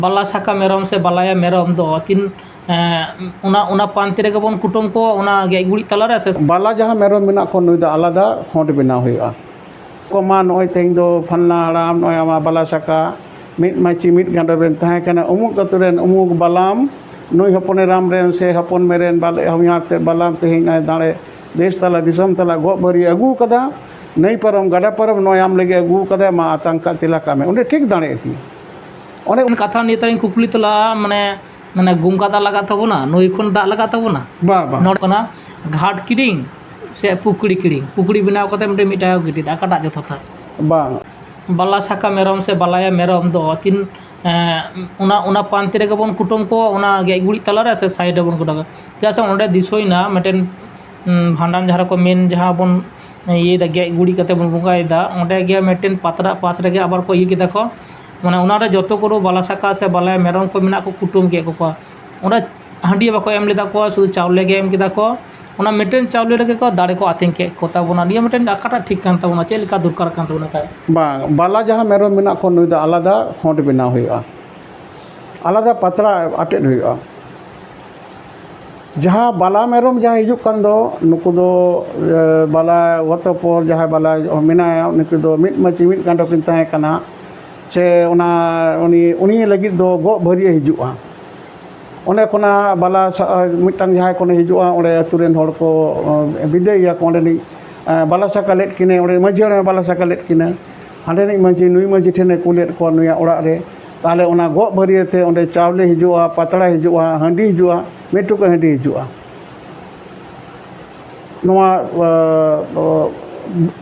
ᱵᱟᱞᱟ ᱥᱟᱠᱟ ᱢᱮᱨᱚᱢ ᱥᱮ ᱵᱟᱞᱟᱭᱟ ᱢᱮᱨᱚᱢ ᱫᱚ ᱛᱤᱱ ᱚᱱᱟ ᱚᱱᱟ ᱯᱟᱱᱛᱮ ᱨᱮᱜᱮ ᱵᱚᱱ ᱠᱩᱴᱟᱹᱢ ᱠᱚᱣᱟ ᱚᱱᱟ ᱜᱮᱡ ᱜᱩᱨᱤᱡ ᱛᱟᱞᱟ ᱨᱮ ᱥᱮ ᱵᱟᱞᱟ ᱡᱟᱦᱟᱸ ᱢᱮᱨᱚᱢ ᱢᱮᱱᱟᱜ ᱠᱚᱣᱟ ᱱᱩᱭ ᱫᱚ ᱟᱞᱟᱫᱟ ᱠᱷᱚᱸᱰ ᱵᱮᱱᱟᱣ ᱦᱩᱭᱩᱜᱼᱟ ᱠᱚᱢᱟ ᱱᱚᱜᱼᱚᱭ ᱛᱮᱦᱮᱧ ᱫᱚ ᱯᱷᱟᱞᱱᱟ ᱦᱟᱲᱟᱢ ᱱᱚᱜᱼᱚᱭ ᱟᱢᱟᱜ ᱵᱟᱞᱟ ᱥᱟᱠᱟ ᱢᱤᱫ ᱢᱟᱹᱪᱤ ᱢᱤᱫ ᱜᱟᱸᱰᱚ ᱨᱮᱱ ᱛᱟᱦᱮᱸ ᱠᱟᱱᱟ ᱩᱢᱩᱠ ᱟᱛᱳ ᱨᱮᱱ ᱩᱢᱩᱠ ᱵᱟᱞᱟᱢ ᱱᱩᱭ ᱦᱚᱯᱚᱱ ᱮᱨᱟᱢ ᱨᱮᱱ ᱥᱮ ᱦᱚᱯᱚᱱ ᱢᱮ ᱨᱮᱱ ᱵᱟᱞᱮ ᱦᱚᱧᱦᱟᱨ ᱛᱮᱫ ᱵᱟᱞᱟᱢ ᱛᱮᱦᱮᱧ ᱱᱚᱜᱼᱚᱭ ᱫᱟᱲᱮ ᱫᱮᱥ ᱛᱟᱞᱟ ᱫᱤᱥᱚᱢ ᱛᱟᱞᱟ ᱜᱚᱜ ᱵᱷᱟᱹᱨᱤᱭ ᱟᱹᱜᱩ ᱟᱠᱟᱫᱟ ᱱᱟᱹᱭ ᱯᱟᱨᱚᱢ ᱜᱟᱰᱟ ᱯᱟᱨᱚᱢ ᱱᱚᱜᱼᱚᱭ ᱟᱢ ᱞᱟᱹᱜᱤᱫ ᱟᱹᱜᱩ ᱟᱠᱟᱫᱟᱭ ᱢᱟ ᱟᱛᱟᱝ ᱠᱟᱜ ᱛᱮᱞᱟ ᱠᱟᱜ ᱢᱮ ᱚᱸᱰᱮ ᱴᱷᱤᱠ ᱫᱟᱲᱮ ᱟᱹᱛᱤᱧ ᱚᱱᱮ ᱚᱱᱟ ᱠᱟᱛᱷᱟ ᱱᱤᱭᱮ ᱛᱮ ᱠᱩᱠᱞᱤ ᱛᱮᱞᱟ ᱢᱟᱱᱮ ᱢᱟᱱᱮ ᱜᱚᱝᱜᱟ ᱫᱟᱜ ᱞᱟᱜᱟᱜ ᱛᱟᱵᱚᱱᱟ ᱱᱟᱹᱭ ᱠᱷᱚᱱ ᱫᱟᱜ ᱞᱟᱜᱟᱜ ᱛᱟᱵᱚᱱᱟ ᱵᱟ ᱵᱟ ᱱᱚᱰᱮ ᱠᱟᱱᱟ ᱜᱷᱟᱴ ᱠᱤᱨᱤᱧ ᱥᱮ ᱯᱩᱠᱷᱨᱤ ᱠᱤᱨᱤᱧ ᱯᱩᱠᱷᱨᱤ ᱵᱮᱱᱟᱣ ᱠᱟᱛᱮ ᱢᱤᱫᱴᱮᱱ ᱢᱤᱫ ᱴᱟᱠᱟ ᱠᱚ ᱜᱤᱰᱤᱭᱮᱫᱟ ᱚᱠᱟᱴᱟᱜ ᱡᱚᱛᱷᱟᱛᱟ ᱵᱟᱝ ᱵᱟᱞᱟ ᱥᱟᱠᱟ ᱢᱮᱨᱚᱢ ᱥᱮ ᱵᱟᱞᱟᱭᱟ ᱢᱮᱨᱚᱢ ᱫᱚ ᱛᱤᱱ ᱚᱱᱟ ᱚᱱᱟ ᱯᱟᱱᱛᱮ ᱨᱮᱜᱮ ᱵᱚᱱ ᱠᱩᱴᱟᱹᱢ ᱠᱚᱣᱟ ᱚᱱᱟ ᱜᱮᱡ ᱜᱩᱨᱤᱡ ᱛᱟᱞᱟ ᱨᱮ ᱥᱮ ᱥᱟᱭᱤᱰ ᱨᱮᱵᱚᱱ ᱠᱩᱴᱟᱹᱢ ᱠᱚᱣᱟ ᱪᱮᱫᱟᱜ ᱥᱮ ᱚᱸᱰᱮ ᱫᱤᱥᱟᱹᱭᱮᱱᱟ ᱢᱤᱫᱴᱮᱱ ᱵᱷᱟᱸᱰᱟᱱ ᱡᱟᱦᱟᱸ ᱨᱮᱠᱚ ᱢᱮᱱ ᱡᱟᱦᱟᱸ ᱵᱚᱱ ᱤᱭᱟᱹᱭᱮᱫᱟ ᱜᱮᱡ ᱜᱩᱨᱤᱡ ᱠᱟᱛᱮ ᱵᱚᱱ ᱵᱚᱸᱜᱟᱭᱮᱫᱟ ᱚᱸᱰᱮ ᱜᱮ ᱢᱤᱫᱴᱮᱱ ᱯᱟᱛᱲᱟ ᱯᱟᱥ ᱨᱮᱜᱮ ᱟᱵᱟᱨ ᱠᱚ ᱤᱭᱟᱹ ᱠᱮᱫᱟ ᱠᱚ ᱢᱟᱱᱮ ᱚᱱᱟ ᱨᱮ ᱡᱚᱛᱚ ᱠᱚᱫᱚ ᱵᱟᱞᱟ ᱥᱟᱠᱟ ᱥᱮ ᱵᱟᱞᱟᱭᱟ ᱢᱮᱨᱚᱢ ᱠᱚ ᱢᱮᱱᱟᱜ ᱠᱚ ᱠᱩᱴᱟᱹᱢ ᱠᱮᱫ ᱠᱚᱣᱟ ᱚᱸᱰᱮ ᱦᱟᱺᱰᱤ ᱦᱚᱸ ᱵᱟᱠᱚ ᱮᱢ ᱞᱮᱫᱟ ᱠᱚ ᱥᱩᱫᱩ ᱪᱟᱣᱞᱮ ᱜᱮ ᱮᱢ ᱠᱮᱫᱟ ᱠᱚ ᱚᱱᱟ ᱢᱤᱫᱴᱮᱱ ᱪᱟᱣᱞᱮ ᱨᱮᱜᱮ ᱠᱚ ᱫᱟᱲᱮ ᱠᱚ ᱟᱹᱛᱤᱧ ᱠᱮᱫ ᱠᱚᱛᱟ ᱵᱚᱱᱟ ᱱᱤᱭᱟᱹ ᱢᱤᱫᱴᱮᱱ ᱚᱠᱟᱴᱟᱜ ᱴᱷᱤᱠ ᱠᱟᱱ ᱛᱟᱵᱚᱱᱟ ᱪᱮᱫ ᱞᱮᱠᱟ ᱫᱚᱨᱠᱟᱨ ᱠᱟᱱ ᱛᱟᱵᱚᱱᱟ ᱠᱷᱟᱡ ᱵᱟᱝ ᱵᱟᱞᱟ ᱡᱟᱦᱟᱸ ᱢᱮᱨᱚᱢ ᱢᱮᱱᱟᱜ ᱠᱚᱣᱟ ᱱᱩᱭ ᱫᱚ ᱟᱞᱟᱫᱟ ᱠᱷᱚᱸᱰ ᱵᱮᱱᱟᱣ ᱦᱩᱭᱩᱜᱼᱟ ᱟᱞᱟᱫᱟ ᱯᱟᱛᱲᱟ ᱟᱴᱮᱫ ᱦᱩᱭᱩᱜᱼᱟ ᱡᱟᱦᱟᱸ ᱵᱟᱞᱟ ᱢᱮᱨᱚᱢ ᱡᱟᱦᱟᱸ ᱦᱤᱡᱩᱜ ᱠᱟᱱ ᱫᱚ ᱱᱩᱠᱩ ᱫᱚ ᱵᱟᱞᱟ ᱚᱛᱚᱯᱚᱨ ᱡᱟᱦᱟᱸᱭ ᱵᱟᱞᱟ ᱢᱮᱱᱟᱭᱟ ᱩᱱᱠᱩ ᱫᱚ ᱢᱤᱫ ᱢᱟᱹᱪᱤ ᱢᱤᱫ ᱜᱟᱸᱰᱚ ᱠᱤᱱ ᱛᱟᱦᱮᱸ ᱠᱟᱱᱟ ᱥᱮ ᱚᱱᱟ ᱩᱱᱤ ᱩᱱᱤ ᱞᱟᱹᱜᱤᱫ ᱫᱚ ᱜᱚᱜ ᱵᱷᱟᱹᱨᱭᱟᱹ ᱦᱤᱡᱩᱜᱼᱟ ᱚᱸᱰᱮ ᱠᱷᱚᱱᱟᱜ ᱵᱟᱞᱟ ᱢᱤᱫᱴᱟᱝ ᱡᱟᱦᱟᱸᱭ ᱠᱷᱚᱱᱮ ᱦᱤᱡᱩᱜᱼᱟ ᱚᱸᱰᱮ ᱟᱛᱳ ᱨᱮᱱ ᱦᱚᱲ ᱠᱚ ᱵᱤᱫᱟᱹᱭᱮᱭᱟ ᱠᱚ ᱚᱸᱰᱮᱱᱤᱡ ᱵᱟᱞᱟ ᱥᱟᱠᱟ ᱞᱮᱫ ᱠᱤᱱᱟᱹᱭ ᱚᱸᱰᱮ ᱢᱟᱹᱡᱷᱤ ᱦᱟᱲᱟᱢᱮ ᱵᱟᱞᱟ ᱥᱟᱠᱟ ᱞᱮᱫ ᱠᱤᱱᱟᱹ ᱦᱟᱸᱰᱮᱱᱤᱡ ᱢᱟᱹᱡᱷᱤ ᱱᱩᱭ ᱢᱟᱹᱡᱷᱤ ᱴᱷᱮᱱᱮ ᱠᱩᱞᱮᱫ ᱠᱚᱣᱟ ᱱᱩᱭᱟᱜ ᱚᱲᱟᱜ ᱨᱮ ᱛᱟᱦᱚᱞᱮ ᱚᱱᱟ ᱜᱚᱜ ᱵᱷᱟᱹᱨᱭᱟᱹ ᱛᱮ ᱚᱸᱰᱮ ᱪᱟᱣᱞᱮ ᱦᱤᱡᱩᱜᱼᱟ ᱯᱟᱛᱲᱟ ᱦᱤᱡᱩᱜᱼᱟ ᱦᱟᱺᱰᱤ ᱦᱤᱡᱩᱜᱼᱟ ᱢᱤᱫ ᱴᱩᱠᱩᱡ ᱦᱟᱺᱰᱤ ᱦᱤᱡᱩᱜᱼᱟ ᱱᱚᱣᱟ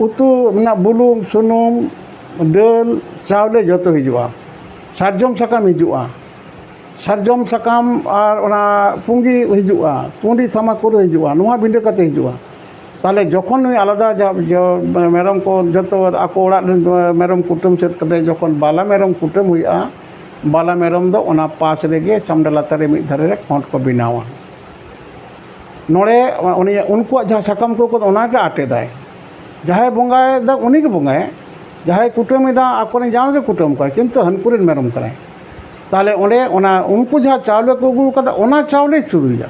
ᱩᱛᱩ ᱨᱮᱱᱟᱜ ᱵᱩᱞᱩᱝ ᱥᱩᱱᱩᱢ ᱫᱟᱹᱞ ᱪᱟᱣᱞᱮ ᱡᱚᱛᱚ ᱦᱤᱡᱩᱜᱼᱟ ᱥᱟᱨᱡᱚᱢ ᱥᱟᱠᱟᱢ ᱦᱤᱡᱩᱜᱼᱟ ᱥᱟᱨᱡᱚᱢ ᱥᱟᱠᱟᱢ ᱟᱨ ᱚᱱᱟ ᱯᱩᱸᱜᱤ ᱦᱤᱡᱩᱜᱼᱟ ᱯᱩᱸᱜᱤ ᱛᱷᱟᱢᱟᱠᱩᱨ ᱦᱤᱡᱩᱜᱼᱟ ᱱᱚᱣᱟ ᱵᱤᱸᱰᱟᱹ ᱠᱟᱛᱮᱫ ᱦᱤᱡᱩᱜᱼᱟ ᱛᱟᱦᱚᱞᱮ ᱡᱚᱠᱷᱚᱱ ᱱᱩᱭ ᱟᱞᱟᱫᱟ ᱢᱮᱨᱚᱢ ᱠᱚ ᱡᱚᱛᱚ ᱟᱠᱚ ᱚᱲᱟᱜ ᱨᱮᱱ ᱢᱮᱨᱚᱢ ᱠᱩᱴᱟᱹᱢ ᱥᱟᱹᱛ ᱠᱟᱛᱮᱫ ᱡᱚᱠᱷᱚᱱ ᱵᱟᱞᱟ ᱢᱮᱨᱚᱢ ᱠᱩᱴᱟᱹᱢ ᱦᱩᱭᱩᱜᱼᱟ ᱵᱟᱞᱟ ᱢᱮᱨᱚᱢ ᱫᱚ ᱚᱱᱟ ᱯᱟᱥ ᱨᱮᱜᱮ ᱪᱷᱟᱢᱰᱟ ᱞᱟᱛᱟᱨ ᱨᱮ ᱢᱤᱫ ᱫᱷᱟᱨᱮ ᱨᱮ ᱠᱷᱚᱸᱰ ᱠᱚ ᱵᱮᱱᱟᱣᱟ ᱱᱚᱰᱮ ᱩᱱᱤᱭᱟᱜ ᱩᱱᱠᱩᱣᱟᱜ ᱡᱟᱦᱟᱸ ᱥᱟᱠᱟᱢ ᱠᱚ ᱟᱹᱜᱩᱭᱟ ᱚᱱᱟᱜᱮ ᱟᱴᱮᱫᱟᱭ ᱡᱟᱦᱟᱸᱭ ᱵᱚᱸᱜᱟᱭᱮᱫᱟ ᱩᱱᱤᱜᱮ ᱵᱚᱸᱜᱟᱭᱟᱭ ᱡᱟᱦᱟᱸᱭ ᱠᱩᱴᱟᱹᱢᱮᱫᱟ ᱟᱠᱚᱨᱮᱱ ᱡᱟᱶᱟᱭ ᱜᱮ ᱠᱩᱴᱟᱹᱢ ᱠᱚᱣᱟᱭ ᱠᱤᱱᱛᱩ ᱦᱟᱹᱱᱠᱩ ᱨᱮᱱ ᱢᱮᱨᱚᱢ ᱠᱟᱱᱟᱭ ᱛᱟᱦᱚᱞᱮ ᱚᱸᱰᱮ ᱚᱱᱟ ᱩᱱᱠᱩ ᱡᱟᱦᱟᱸ ᱪᱟᱣᱞᱮ ᱠᱚ ᱟᱹᱜᱩ ᱠᱟᱫᱟ ᱚᱱᱟ ᱪᱟᱣᱞᱮ ᱪᱩᱨᱩᱡᱟ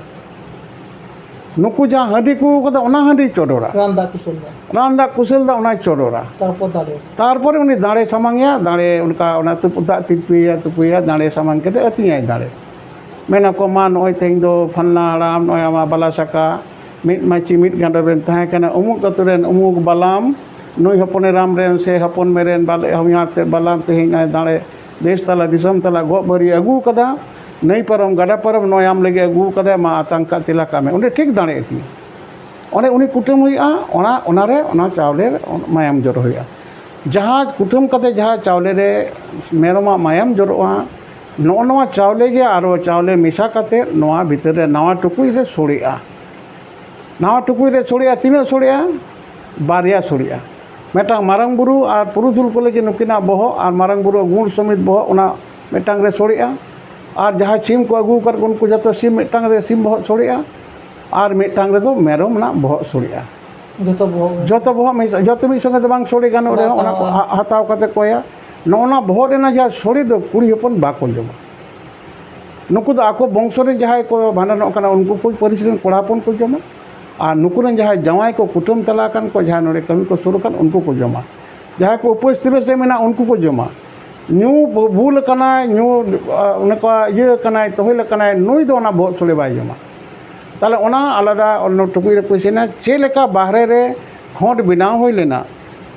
ᱱᱩᱠᱩ ᱡᱟᱦᱟᱸ ᱦᱟᱺᱰᱤ ᱠᱚ ᱟᱹᱜᱩ ᱠᱟᱫᱟ ᱚᱱᱟ ᱦᱟᱺᱰᱤᱭ ᱪᱚᱰᱚᱨᱟ ᱨᱟᱱ ᱫᱟᱜ ᱠᱩᱥᱟᱹᱞ ᱫᱟᱜ ᱨᱟᱱ ᱫᱟᱜ ᱠᱩᱥᱟᱹᱞ ᱫᱟᱜ ᱚᱱᱟᱭ ᱪᱚᱰᱚᱨᱟ ᱛᱟᱨᱯᱚᱨ ᱫᱟᱲᱮ ᱛᱟᱨᱯᱚᱨᱮ ᱩᱱᱤ ᱫᱟᱲᱮ ᱥᱟᱢᱟᱝ ᱮᱭᱟ ᱫᱟᱲᱮ ᱚᱱᱠᱟ ᱚᱱᱟ ᱛᱩᱯᱩᱫ ᱫᱟᱜ ᱛᱤᱯᱤᱭᱟᱭ ᱛᱩᱯᱩᱭᱟᱭ ᱫᱟᱲᱮ ᱥᱟᱢᱟᱝ ᱠᱟᱛᱮᱫ ᱟᱹᱛᱤᱧᱟᱭ ᱫᱟᱲᱮ ᱢᱮᱱ ᱟᱠᱚ ᱢᱟ ᱱᱚᱜᱼᱚᱭ ᱛᱮᱦᱮᱧ ᱫᱚ ᱯᱷᱟᱞᱱᱟ ᱦᱟᱲᱟᱢ ᱱᱚᱜᱼᱚᱭ ᱟᱢᱟᱜ ᱵᱟᱞᱟ ᱥᱟᱠᱟ ᱢᱤᱫ ᱢᱟᱹᱪᱤ ᱢᱤᱫ ᱜᱟᱸᱰᱚ ᱨᱮᱱ ᱛᱟᱦᱮᱸ ᱠᱟᱱᱟᱭ ᱩᱢᱩᱠ ᱟᱛᱳ ᱨᱮᱱ ᱩᱢᱩᱠ ᱵᱟᱞᱟᱢ ᱱᱩᱭ ᱦᱚᱯᱚᱱ ᱮᱨᱟᱢ ᱨᱮᱱ ᱥᱮ ᱦᱚᱯᱚᱱ ᱢᱮᱨᱮᱱ ᱵᱟᱞᱮ ᱦᱚᱧᱦᱟᱨ ᱛᱮᱫ ᱵᱟᱞᱟᱢ ᱛᱮᱦᱮᱧ ᱱᱚᱜᱼᱚᱭ ᱫᱟᱲᱮ ᱫᱮᱥ ᱛᱟᱞᱟ ᱫᱤᱥᱚᱢ ᱛᱟᱞᱟ ᱜᱚᱜ ᱵᱷᱟᱹᱨᱤ ᱟᱹᱜᱩ ᱠᱟᱫᱟ ᱱᱟᱹᱭ ᱯᱟᱨᱚᱢ ᱜᱟᱰᱟ ᱯᱟᱨᱚᱢ ᱱᱚᱜᱼᱚᱭ ᱟᱢ ᱞᱟᱹᱜᱤᱫ ᱟᱹᱜᱩ ᱠᱟᱫᱟᱭ ᱢᱟ ᱟᱛᱟᱝ ᱠᱟᱜ ᱛᱮᱞᱟ ᱠᱟᱜ ᱢᱮ ᱚᱸᱰᱮ ᱴᱷᱤᱠ ᱫᱟᱲᱮ ᱤᱫᱤ ᱚᱸᱰᱮ ᱩᱱᱤ ᱠᱩᱴᱟᱹᱢ ᱦᱩᱭᱩᱜᱼᱟ ᱚᱱᱟ ᱚᱱᱟ ᱨᱮ ᱚᱱᱟ ᱪᱟᱣᱞᱮ ᱢᱟᱭᱟᱢ ᱡᱚᱨᱚ ᱦᱩᱭᱩᱜᱼᱟ ᱡᱟᱦᱟᱸ ᱠᱩᱴᱟᱹᱢ ᱠᱟᱛᱮᱫ ᱡᱟᱦᱟᱸ ᱪᱟᱣᱞᱮ ᱨᱮ ᱢᱮᱨᱚᱢᱟᱜ ᱢᱟᱭᱟᱢ ᱡᱚᱨᱚᱜᱼᱟ ᱱᱚᱜᱼᱚ ᱱᱚᱣᱟ ᱪᱟᱣᱞᱮ ᱜᱮ ᱟᱨᱚ ᱪᱟᱣᱞᱮ ᱢᱮᱥᱟ ᱠᱟᱛᱮᱫ ᱱᱚᱣᱟ ᱵᱷᱤᱛᱟᱹᱨ ᱨᱮ ᱱᱟᱣᱟ ᱴᱩᱠᱩᱡ ᱨᱮ ᱥᱚᱲᱮᱜᱼᱟ ᱱᱟᱣᱟ ᱴᱩᱠᱩᱡ ᱨᱮ ᱥᱚᱲᱮᱜᱼᱟ ᱛᱤᱱᱟᱹᱜ ᱥᱚᱲᱮᱜᱼᱟ ᱵᱟᱨᱭᱟ ᱥᱚᱲᱮᱜᱼᱟ ᱢᱤᱫᱴᱟᱝ ᱢᱟᱨᱟᱝ ᱵᱩᱨᱩ ᱟᱨ ᱯᱩᱨᱩᱫᱷᱩᱞ ᱠᱚ ᱞᱟᱹᱜᱤᱫ ᱱᱩᱠᱤᱱᱟᱜ ᱵᱚᱦᱚᱜ ᱟᱨ ᱢᱟᱨᱟᱝ ᱵᱩᱨᱩᱣᱟᱜ ᱜᱩᱲ ᱥᱚᱢᱮᱛ ᱵᱚᱦᱚᱜ ᱚᱱᱟ ᱢᱤᱫᱴᱟᱝ ᱨᱮ ᱥᱚᱲᱮᱜᱼᱟ ᱟᱨ ᱡᱟᱦᱟᱸ ᱥᱤᱢ ᱠᱚ ᱟᱹᱜᱩ ᱟᱠᱟᱫ ᱠᱚ ᱩᱱᱠᱩ ᱡᱚᱛᱚ ᱥᱤᱢ ᱢᱤᱫᱴᱟᱝ ᱨᱮ ᱥᱤᱢ ᱵᱚᱦᱚᱜ ᱥᱚᱲᱮᱜᱼᱟ ᱟᱨ ᱢᱤᱫᱴᱟᱝ ᱨᱮᱫᱚ ᱢᱮᱨᱚᱢ ᱨᱮᱱᱟᱜ ᱵᱚᱦᱚᱜ ᱥᱚᱲᱮᱜᱼᱟ ᱡᱚᱛᱚ ᱵᱚᱦᱚᱜ ᱢᱤᱫ ᱥᱚᱝᱜᱮ ᱛᱮ ᱵᱟᱝ ᱥᱚᱲᱮ ᱜᱟᱱᱚᱜ ᱨᱮᱦᱚᱸ ᱚᱱᱟ ᱠᱚ ᱦᱟᱛᱟᱣ ᱠᱟᱛᱮᱫ ᱠᱚ ᱮᱢᱟ ᱱᱚᱜᱼᱚ ᱱᱟ ᱵᱚᱦᱚᱜ ᱨᱮᱱᱟᱜ ᱡᱟᱦᱟᱸ ᱥᱳᱲᱮ ᱫᱚ ᱠᱩᱲᱤ ᱦᱚᱯᱚᱱ ᱵᱟᱠᱚ ᱡᱚᱢᱟ ᱱᱩᱠᱩ ᱫᱚ ᱟᱠᱚ ᱵᱚᱝᱥᱚ ᱨᱮᱱ ᱡᱟᱦᱟᱸᱭ ᱠᱚ ᱵᱷᱟᱸᱰᱟᱱᱚᱜ ᱠᱟᱱᱟ ᱩᱱᱠᱩ ᱠᱚ ᱯᱟᱹᱨᱤᱥ ᱨᱮᱱ ᱠᱚᱲᱟ ᱦᱚᱯᱚᱱ ᱠᱚ ᱡᱚᱢᱟ ᱟᱨ ᱱᱩᱠᱩ ᱨᱮᱱ ᱡᱟᱦᱟᱸᱭ ᱡᱟᱶᱟᱭ ᱠᱚ ᱠᱩᱴᱟᱹᱢ ᱪᱟᱞᱟᱣ ᱟᱠᱟᱱ ᱠᱚ ᱡᱟᱦᱟᱸᱭ ᱱᱚᱰᱮ ᱠᱟᱹᱢᱤ ᱠᱚ ᱥᱩᱨ ᱟᱠᱟᱱ ᱩᱱᱠᱩ ᱠᱚ ᱡᱚᱢᱟ ᱡᱟᱦᱟᱸᱭ ᱠᱚ ᱩᱯᱟᱹᱥ ᱛᱤᱨᱟᱹᱥ ᱨᱮ ᱢᱮᱱᱟᱜ ᱩᱱᱠᱩ ᱠᱚ ᱡᱚᱢᱟ ᱧᱩ ᱵᱩᱞ ᱟᱠᱟᱱᱟᱭ ᱧᱩ ᱚᱱᱮ ᱠᱚ ᱤᱭᱟᱹ ᱟᱠᱟᱱᱟᱭ ᱛᱚᱦᱮᱞ ᱟᱠᱟᱱᱟᱭ ᱱᱩᱭ ᱫᱚ ᱚᱱᱟ ᱵᱚᱦᱚᱜ ᱥᱳᱲᱮ ᱵᱟᱭ ᱡᱚᱢᱟ ᱛᱟᱦᱚᱞᱮ ᱚᱱᱟ ᱟᱞᱟᱫᱟ ᱚᱱᱱᱚ ᱴᱩᱠᱩᱡ ᱨᱮᱠᱚ ᱤᱥᱤᱱᱟ ᱪᱮᱫ ᱞᱮᱠᱟ ᱵᱟᱦᱨᱮ ᱨᱮ ᱠᱷᱚᱸᱰ ᱵᱮᱱᱟᱣ ᱦᱩᱭ ᱞᱮᱱᱟ